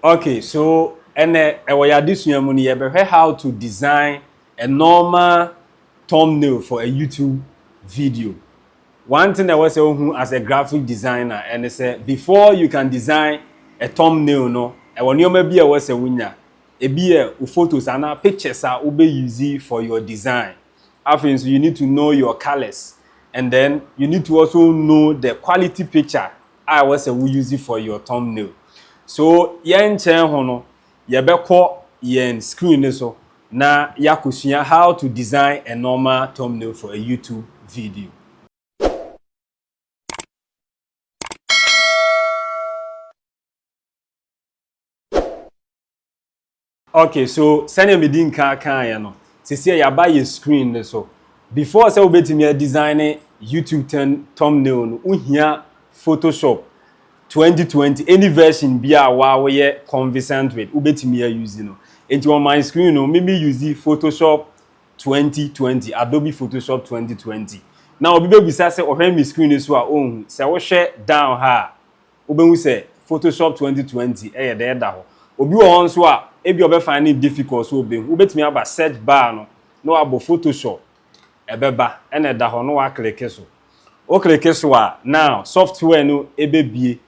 Ok so ɛnɛ ɛwɔ yɛ adesua mu no yɛbɛhwɛ how to design a normal thumbnail for a YouTube video. One thing ɛwɔ sɛ ohu as a graphic designer ɛne sɛ before you can design a thumbnail no ɛwɔ nneɛma bi a ɛwɔ sɛ wonya. Ebi yɛ wo photos anaa pictures a wobɛ use for your design. Afei nso you need to know your colors and then you need to also know the quality picture a ɛwɔ sɛ wo use for your thumbnail. So yɛnkyɛn ho no yɛbɛkɔ yɛn screen no so na yɛakɔsua how to design a normal thumbnail for a YouTube video. Ok so sɛnea medi nkan kaeɛ no sesie yaba yɛ screen no so before sɛ wobɛtumi a design ne YouTube ten thumbnail no wohia Photoshop 2020 any version bi a waa woyɛ conversant with wobɛtumi a use no nti on my screen no mimi use Photoshop 2020 Adobe Photoshop 2020 na obi bɛbisa sɛ ɔhwɛ me screen no so a ɔnhu sɛ wohwɛ down ha a wobɛhu sɛ Photoshop 2020 yɛ dɛ da hɔ. Obi wɔ hɔ nso a, ebi a ɔbɛfa ne difficult sɛ ɔbɛhu. Wobɛtumi aba search bar no na wabɔ Photoshop, ɛbɛba ɛna ɛda hɔ na wakleke so. Wokleke so a, now software no ɛbɛbie,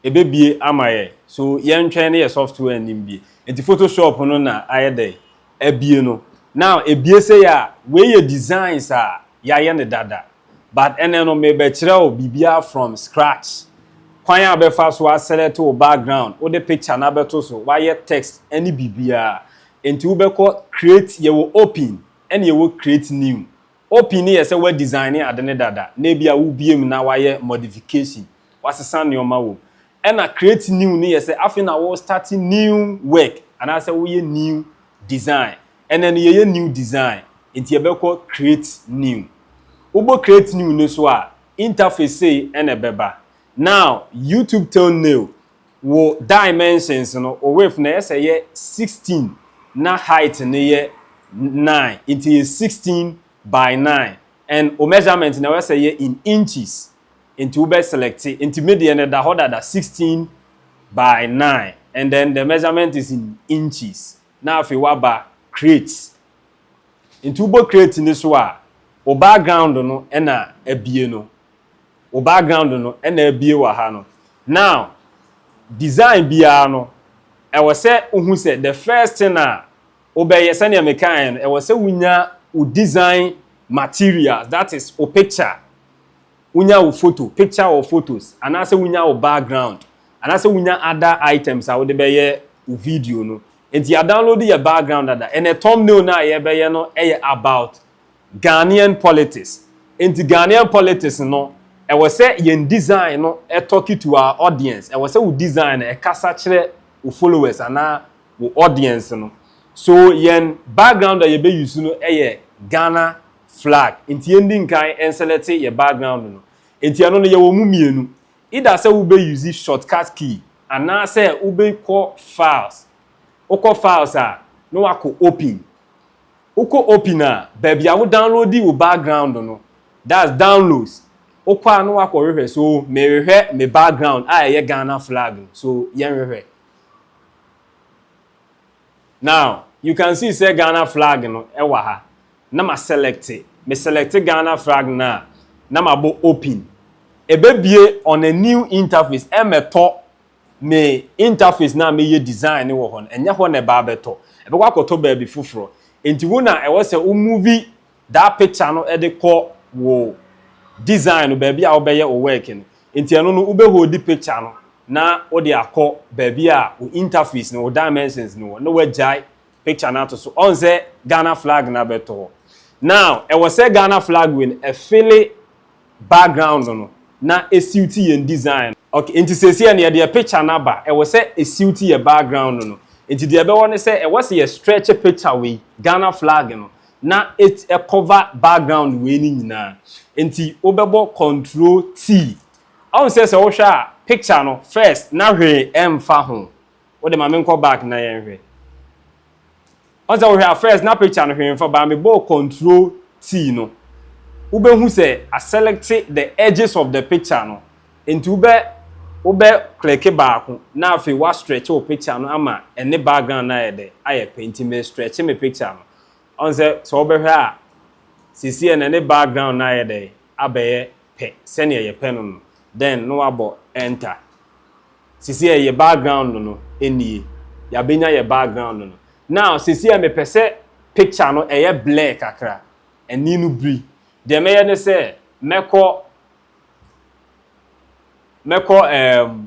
ɛbɛbie ama yɛ. So yɛntwɛn ne yɛ software no mbie. Nti Photoshop no na ayɛ dɛ abie no. Now ɛbie sei a, wei yɛ designs a yɛayɛ no dada. but ɛnnɛ no merebɛkyerɛ wo biribiara from scratch. Kwan a wobɛfa so a select wo background, wode picture no abɛto so, woayɛ text ne biribiara. Enti wobɛkɔ create, yɛwɔ open ɛna yɛwɔ create new. Open no yɛ sɛ woadesigne ade no dada na ebia wobue mu na woayɛ modification, woasesa nneɛma wɔ mu. Ɛna create new no yɛ sɛ afei na wo start new work anaasɛ woyɛ new design Ɛnɛ no yɛyɛ new design nti yɛbɛkɔ create new. Wobɔ create new no so a, interface sei na ɛbɛba. Now YouTube thumbnail, wo dimensions no, wo width no ɛyɛ sɛ ɛyɛ 16 na height no yɛ 9 nti ɛyɛ 16 by 9 and wo measurement no ɛwɔ sɛ ɛyɛ in inches nti wobɛ select nti me deɛ no ɛda hɔ dada 16 by 9 and then the measurement is in inches na afei woaba create nti wobɔ create no so a wo background no na abie no wo background no na abie wɔ ha no now design biara no ɛwɔ sɛ wohu sɛ the first thing a wobɛyɛ sɛnea mekaeɛ no ɛwɔ sɛ wonya wo design materials that is wo picture wonya wo photo, picture or photos, anaasɛ wonya wo background, anaasɛ wonya other items a wode bɛyɛ wo video no. Enti yɛadownload yɛ background dada. Ɛnnɛ thumbnail no a yɛbɛyɛ no yɛ about Ghanaian politics. Enti Ghanaian politics no, ɛwɔ sɛ yɛn design no talk to our audience. Ɛwɔ sɛ wo design no ɛkasa kyerɛ wo followers anaa wo audience no. So yɛn background a yɛbɛ use no yɛ Ghana flag nti yɛn di nkan nselɛte yɛ background no nti ɛno no yɛwɔ mu mmienu either sɛ wobɛ use shortcut key anaasɛ wobɛ kɔ files wokɔ files a na wakɔ open wokɔ open a baabi a wo downloadi wo background no that's downloads wokɔ a na wakɔ hwehwɛ so mehwehwɛ me background a ɛyɛ Ghana flag no so yɛn hwehwɛ. Now you can see sɛ Ghana flag no ɛwɔ ha na ma select me select Ghana flag no a na ma bɔ open ɛbɛbie on a new interface ɛmɛtɔ me interface no a meyɛ design no wɔ hɔ no ɛnyɛ hɔ na ɛba abɛtɔ ɛbɛkɔ akɔtɔ baabi foforɔ nti wo na ɛwɔ sɛ wo movie Daa picture no de kɔ wo design no baabi a wobɛyɛ wo work no. Nti ɛno no wobɛ holdi picture no na wode akɔ baabi a wo interface no, wo dimensions no wɔ na wagyae picture no ato so. Ɔhu sɛ Ghana flag no abɛto hɔ. Now ɛwɔ sɛ Ghana flag wei no ɛfili background no no na ɛsiwti yɛn design no. Okay, nti seesei no yɛde yɛ picture no aba, ɛwɔ sɛ ɛsiwti yɛ background no no. Nti deɛ ɛbɛwɔ ne sɛ ɛwɔ sɛ yɛ stretch picture wei, Ghana flag no, na et cover background wei no nyinaa nti wobɛbɔ control T woahu sɛ sɛ wohwɛ a picture no first na hwee ɛmfa ho wode ma menkɔ back na yɛnhwɛ woahu sɛ wohwɛ a first na picture no hwee mfa baa mebɔɔ control T no wobɛhu sɛ a select the edges of the picture no nti wobɛ wobɛ click baako na afei wa stretch wo picture no ama ɛne background no ayɛ dɛ ayɛ pɛ nti me stretch me picture no Ɔn sɛ sɛ wobɛhwɛ a sesei na ne background no ayɛ dɛn abɛyɛ pɛ sɛnea yɛpɛ no no then na wabɔ enter. Sesei ɛyɛ background no no nie, yɛabɛnya yɛ background no no. Now sesei mepɛ sɛ picture no ɛyɛ blur kakra, ani no biri. Deɛ mɛyɛ ne sɛ mɛkɔ mɛkɔ ɛɛm.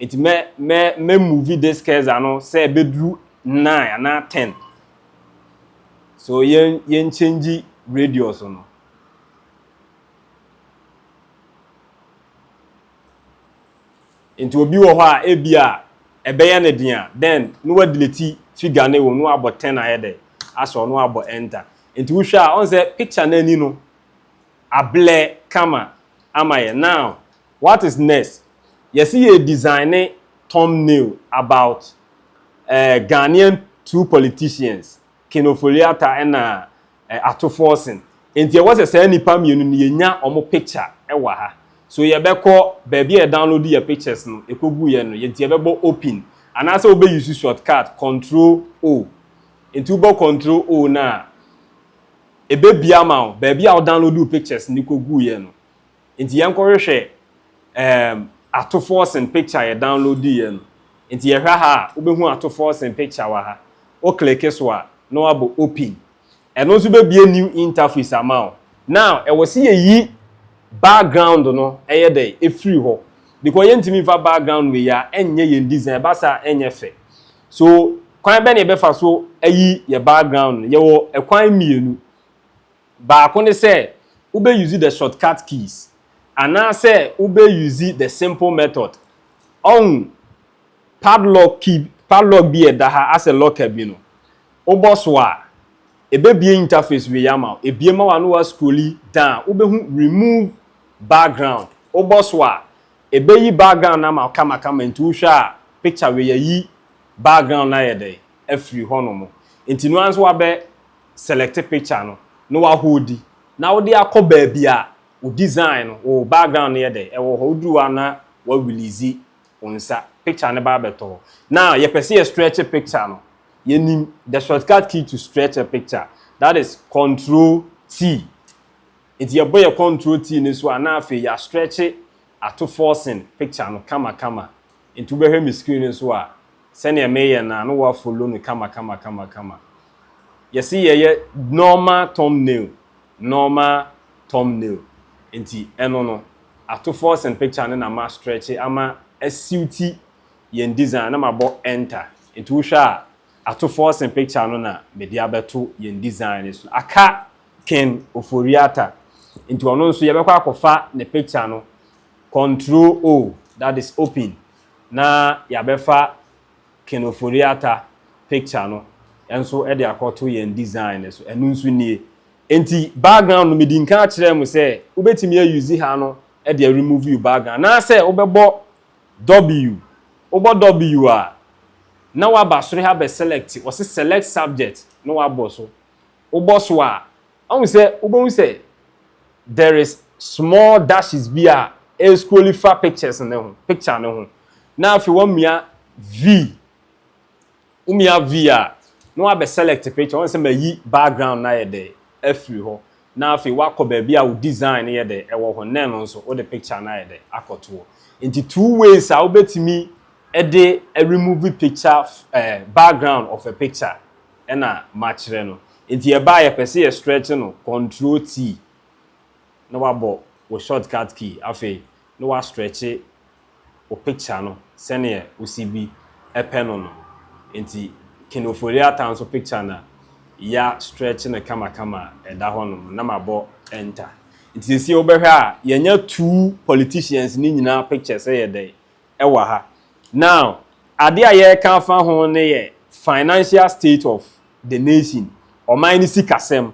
Enti mɛ mɛ mɛ move this curse ano sɛ ɛbɛduru nine anaa ten. So yɛn yɛn change radius no. Enti obi wɔ hɔ a ebi a ɛbɛyɛ ne den a then no wa delete figure no wɔ no abɔ ten ayɛ dɛ asɔ no abɔ enter. Enti wohwɛ a ɔn sɛ picture no ani no Ablɛ kama ama yɛn now what is next yɛse yɛ design thumb nail about eh Ghanaian two politicians Ken Ofori-Atta ɛna eh Ato Forson nti ɛwɔ sɛ saa nipa mmienu no yɛnya ɔmo picture ɛwɔ ha so yɛbɛkɔ baabi a yɛ download yɛ pictures no ɛkɔ gu yɛ no yɛnti yɛbɛbɔ open anaasɛ wobɛ use shortcut control O nti wobɔ control O no a ɛbɛbue ama wo baabi a wo download wo pictures no kɔ guiɛ no. Nti yɛnkɔ hwehwɛ um, Ato Forson picture yɛ download yɛ no. Nti yɛhwɛ ha a, wobɛhu Ato Forson picture wɔ ha. Wo click so a, na wabɔ open. Ɛno nso bɛbue new interface ama wo. Now, ɛwɔ sɛ yɛyi background no ɛyɛ dɛ, ɛfiri hɔ. Because yɛntumi mfa background wei a ɛnyɛ yɛn design, ɛba saa a ɛnyɛ fɛ. So kwan bɛn na yɛbɛfa so ayi yɛn background no? Yɛwɔ kwan mmienu. Baako ne sɛ wobɛ use the shortcut keys anaasɛ wobɛ use the simple method. Ɔhu padlock key, padlock bi a ɛda ha asɛ locker bi no, wobɔ so a, ɛbɛbie interface wei ama wo. Ɛbie ma wo a na woascrolli down, wobɛhu remove background. Wobɔ so a, Ebeyi background no ama wo kamakama nti wohwɛ a picture wei ayi background no ayɛ dɛn afiri hɔnom nti no ara nso wabɛ select picture no na waholdi na wode akɔ baabi a wo design no wo background no yɛ dɛn ɛwɔ hɔ woduru hɔ a na wa release wo nsa picture no ba abɛtɔ hɔ na yɛpɛ sɛ yɛ stretch picture no yɛnim the shortcut key to stretch a picture that is control T Enti yɛbɔ yɛ kɔntrol T no so a na afei yɛastrɛkye ato forcing picture no kamakama. Enti wobɛhwɛ me screen no so a, sɛdeɛ mereyɛ no a na woafollow no kamakamakamakama. Yɛse yɛyɛ normal thumbnail, normal thumbnail. Enti ɛno no, ato forcing picture no na mastrɛkye ama asuiti yɛn design no na mabɔ enter. Enti wohwɛ a, ato forcing picture no na mede abɛto yɛn design no so. Aka Ken Ofori-Atta nti ɔno nso yɛbɛkɔ akɔfa ne picture no, control O that is open na yɛabɛfa Ken Ofori-Atta picture no nso de akɔto yɛn design no so, ɛno nso nie. Nti background no medi nkan akyerɛɛ mo sɛ wobɛtumi a use ha no de a remove you background anaasɛ wobɛbɔ W, wobɔ W a na woaba soro ha abɛ select, wɔse select subject na woabɔ so wobɔ so a, ahu sɛ wobɛhu sɛ there is small dashes bi a ɛrescrolli fa pictures no ho, picture no ho. Na afei wamia V. Womia V a, na wabɛ select picture, wahu sɛ mayi background no ayɛ dɛ afiri hɔ. Na afei wakɔ baabi a wo design no yɛ dɛ ɛwɔ hɔ, na ɛno nso wode picture no ayɛ dɛ akɔtoɔ. Nti two ways a wobɛtumi de remove picture, ɛɛ background of a picture. ɛna makyerɛ no nti ɛba a yɛpɛ sɛ yɛ stretch no control T na wabɔ wo short cut key afei na wa stretch wo picture no sɛdeɛ wo sibi ɛpɛ no no nti Kinophoria ta nso picture na ya stretch no kama kama a ɛda hɔ nom na mabɔ enter nti sesie wobɛhwɛ a yɛnya two politicians no nyinaa picture sɛ yɛ dɛn wɔ ha. Now, ade a yɛreka afa ho no yɛ financial state of the nation, ɔman no sikasɛm.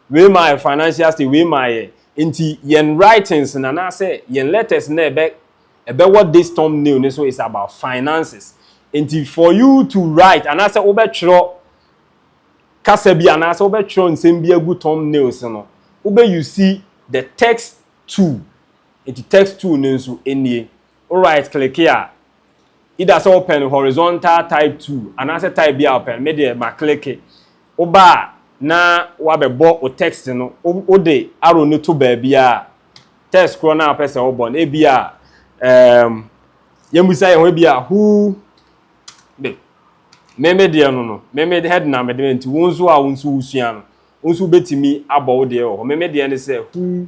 Wei ma ayɛ financial state, wei ma ayɛ. Nti yɛn writings no anaasɛ yɛn letters no a ɛbɛ ɛbɛwɔ this thumbnail no so is about finances. Nti for you to write anaasɛ wobɛtwerɛ kasa bi anaasɛ wobɛtwerɛ nsɛm bi agu thumbnails no, wobɛ use the text tool. Nti text tool no nso nie. Wo right click a, either sɛ wopɛ no horizontal type two anaasɛ type bi a wopɛ no, me deɛ ma click. Woba a na wabɛbɔ wo text no, wode arrow no to baabiara a, text korɔ no a wopɛ sɛ wobɔ no, ebi a um, yɛmmisa yɛn ho ebi a who de, me me deɛ no no, me me head na mede nti wo nso a wo nso wosua no, wo nso wobɛtumi abɔ wo deɛ wɔ hɔ, me me deɛ ne sɛ who.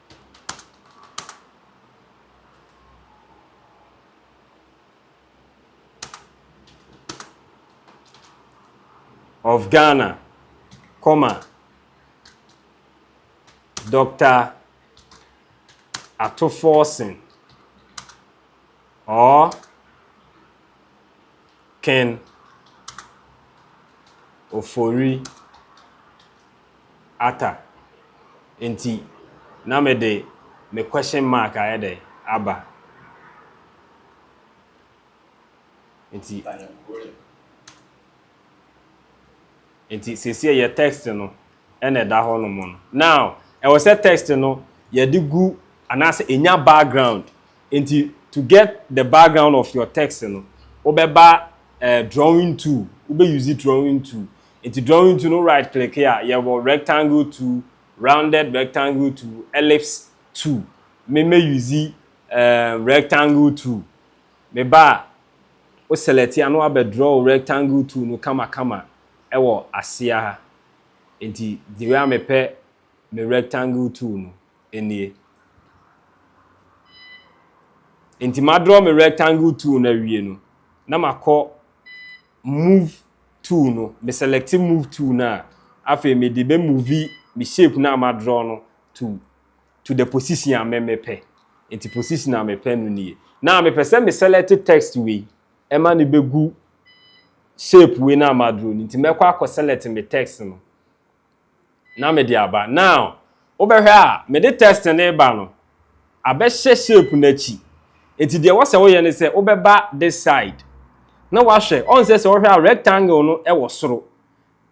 of Ghana, comma, Dr. Ato Forson or Ken Ofori. ata nti na me de me question mark ayɛ dɛn aba nti nti sɛsɛ yɛ text no ɛna ɛda hɔ nom no now ɛwɔ sɛ text no yɛde gu anaasɛ ɛnya background nti to get the background of your text no wobɛba uh, drawing tool wobɛ use drawing tool Enti drawing two no right click a yɛwɔ rectangle two, rounded rectangle two, ellipse two. Me mɛ use um, rectangle two. Me ba a, wo select a na wabɛ draw rectangle two no kama kama ɛwɔ aseɛ ha. Enti the way a me pɛ me rectangle two no nie. Enti ma draw me rectangle two no awie no, na ma kɔ move tool no, me select move tool no a, afei me de bɛ move me shape no a ma draw no to to the position a me mepɛ. Nti position a mepɛ no nie. Now me pɛ sɛ me select text wei, ɛma no bɛgu shape wei no a ma draw no. Nti mɛkɔ akɔ select me text no. na mede aba. Now, wobɛhwɛ a, mede test no reba no, abɛhyɛ shape no akyi. Enti deɛ ɛwɔ sɛ woyɛ ne sɛ, wobɛba this side, na wahwɛ. Ɔn sɛ sɛ wohwɛ a, rectangle no wɔ soro,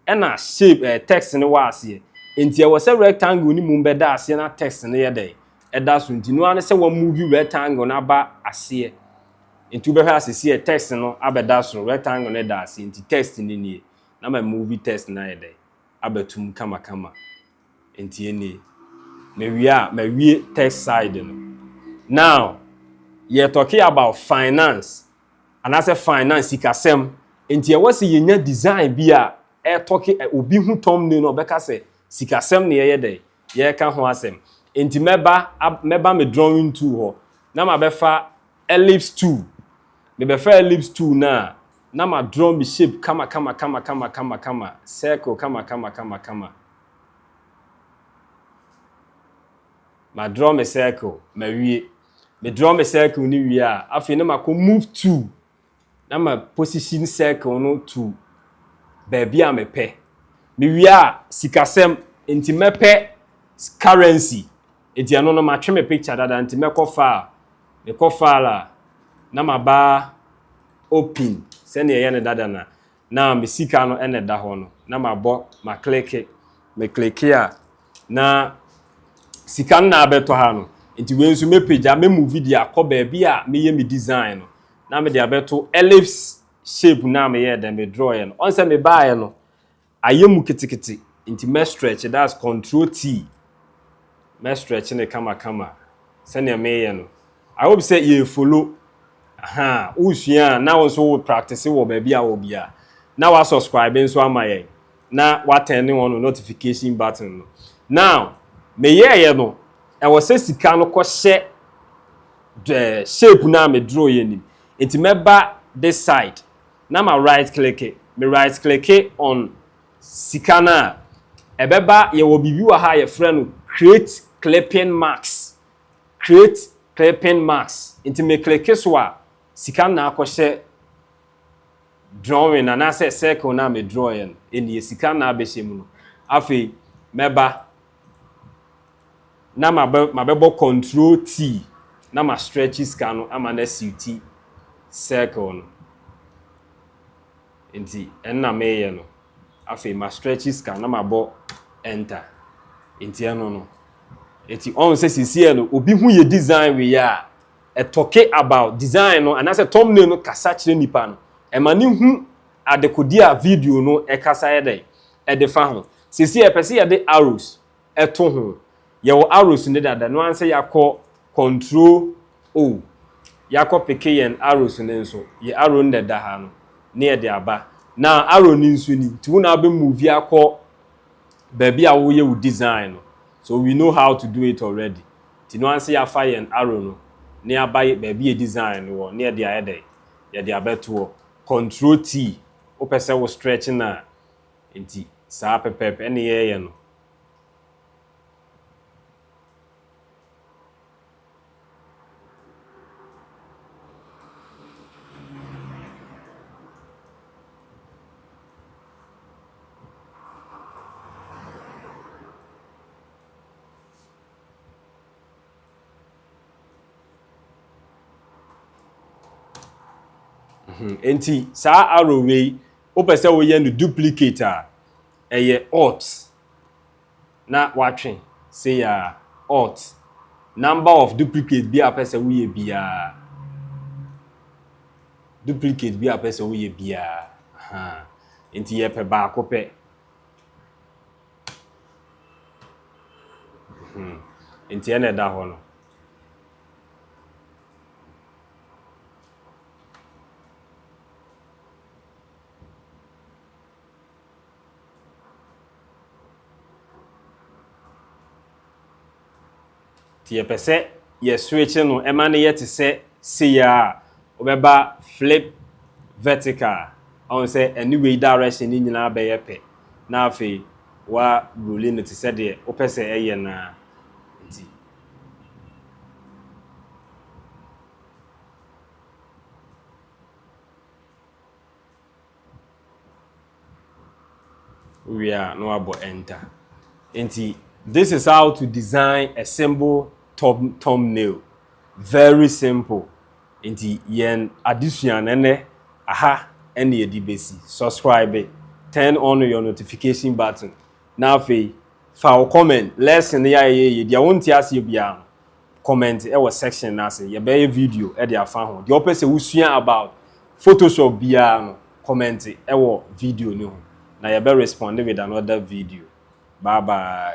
ɛna shape ɛɛ text no wɔ aseɛ. Enti ɛwɔ sɛ rectangle no mu bɛda aseɛ na text no yɛ dɛn? Ɛda so. Nti no ara ne sɛ wa move rectangle no aba aseɛ. Nti wobɛhwɛ a sɛsi ɛ text no abɛda soro, rectangle no da aseɛ, nti text no nie. Na my movie test no ayɛ dɛ abɛtum kamakama ntsi emi mewie a mawie test side no. Now yɛ talking about finance anaasɛ finance sikasɛm ntsi ɛwɔ sɛ yenya design bi a ɛ talking obi hu thumbnail no ɔbɛka sɛ sikasɛm na yɛyɛ dɛ yɛreka ho asɛm. Enti mɛba mɛba me drawing tool hɔ na mabɛfa ellipse tool. Mebɛfa ellipse tool no a, na ma draw me shape kama kama kama kama kama kama, circle kama kama kama kama. Ma draw me circle, mawie. Me draw me circle no wie a, afei na makɔ move tool na ma position circle no to baabi a mepɛ. Mewie a, sikasɛm, nti mɛpɛ currency, nti ɛno no matwe me picture dada, nti mɛkɔ file, mekɔ file a, na maba open sɛnea ɛyɛ no dada no a, na me sika no na ɛda hɔ no, na mabɔ makleke, mekleke a na sika no na abɛtɔ ha no. Nti wei nso mɛpagya, mɛmuvi de akɔ baabi a meyɛ me design no, na mede abɛto ellipse shape no a meyɛɛ dɛn, me drawɛɛ no. Ɔn sɛ mebaeɛ no, ayɛ mu ketekete, nti mɛ stretch, that's control T, mɛ stretch no kama kama sɛdeɛ meyɛ no. I hope sɛ yɛ follow ahaa wo sua a na wo nso wo practice wɔ baabi a wɔ biara na wa subscribe nso ama yɛn na wa turn ne wɔn notification button no now me yɛɛ yɛ no ɛwɔ sɛ sika no kɔ hyɛ the shape no a me draw yɛ nim nti mɛba this side na ma right click me right click on sika no a ɛbɛba yɛwɔ biribi wɔ ha yɛfrɛ no create clipping marks create clipping mask nti me click so a sika na akɔ hyɛ drawing anaasɛ circle no a me draw yɛ no ɛnie sika na abɛhyɛ mu no afei mɛba na mabɛbɔ control T na ma stretch sika no ama no asiw ti circle no. Nti ɛno na meyɛ no. Afei ma stretchy scan na mabɔ enter. Nti ɛno no. Nti ɔn sɛ sisiɛ no obi hu yɛ design wei a, ɛtɔke about design no anaasɛ thumbnail no kasa kyerɛ nipa no. Ɛma no hu adekode a video no ɛkasa yɛ dɛn ɛdefa ho. Sisiɛ yɛpɛ sɛ yɛde arrows ɛto ho. Yɛwɔ arrows no dada, ɛno ara ne sɛ yɛakɔ control O, yɛakɔ peke yɛn arrows no nso, yɛ arrow no na ɛda ha no, na yɛde aba. Now arrow no nso ni, nti wo na wobɛ move akɔ baabi a woyɛ wo design no, so we know how to do it already, nti ɛno ara ne sɛ yɛafa yɛn arrow no na yɛaba baabi yɛ design no wɔ, na yɛde ayɛ dɛn? Yɛde abɛto hɔ. Control T, wopɛ sɛ wo stretch no a, Enti saa pɛpɛɛpɛ ne yɛreyɛ no. Enti saa arrow wei Wopɛ sɛ woyɛ no duplicate a, ɛyɛ Alt na woatwe sei ara, Alt, number of duplicate biara a wopɛ sɛ woyɛ biara, duplicate biara a wopɛ sɛ woyɛ biara, ahaa, nti yɛpɛ baako pɛ. Hmm. Nti ɛna ɛda hɔ no. Nti yɛpɛ sɛ yɛswitche no ɛma no yɛ te sɛ sei a wobɛba flip vertical ɔn sɛ ɛne wei direction ne nyinaa bɛyɛ pɛ na afei wa ruli no te sɛ deɛ wopɛ sɛ ɛyɛ no a nti Wie a, na wabɔ enter. Nti, this is how to design a simple thumb thumbnail. Very simple. Nti, yɛn adesua no ɛnɛ, aha ɛna yɛde bɛsi. Subscribe, turn on your notification button. Na afei, fa wo comment, lesson no yɛ a yɛyɛ, deɛ wonte aseɛ biara no, comment wɔ section no ase yɛbɛyɛ video de afa ho deɛ ɔpɛ sɛ wosua about photoshop biara no comment wɔ video no ho na yɛbɛ respond with another video bye bye